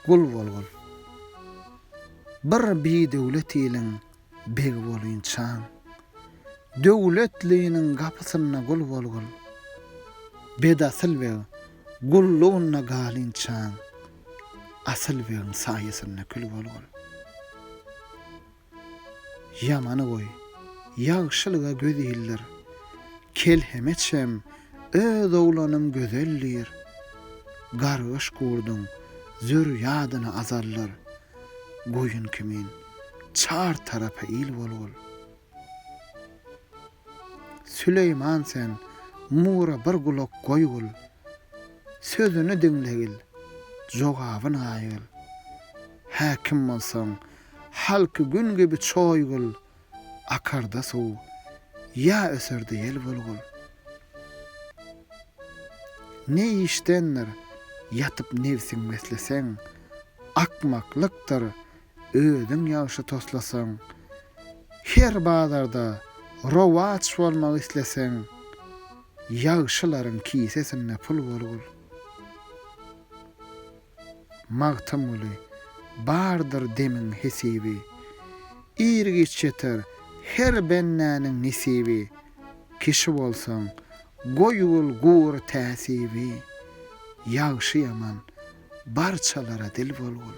Gul bolgul. Bir bidöwlet iliň begi bolynçaň. Döwletliniň gapysynda gul bolgul. Bedasyl beg gullugynda galynçaň. Asyl begiň saýasynda kül bolgul. Ýamany goý, ýagşylyga göz ildir, Kelhemeçem öz oglanym gözel diýr. Gargyş gurduň zürýadyny azaldyr, Goýun kimin çar tarapa il bolgul. Süleýman sen Mura bir gulak goýgul, Sözüni diňlegil, jogabyn gaýgil. Häkim bolsaň Halky gün gibi çoýgul, Akarda suw, ýa öserde ýel bulgul. Ne işdendir, ýatyp nebsiň besleseň, Akmaklykdyr, özüň ýagşy toslasaň. Her bazarda rowaç bolmak isleseň, Ýagşylaryň kisesinde pul bolgul. Magtymguly, Bardyr demiň hesibi, Ir-giç ýeter her bendäniň nesibi, Kişi bolsaň, goýul gur täsibi, Ýagşy-ýaman, barçalara dil bolgul.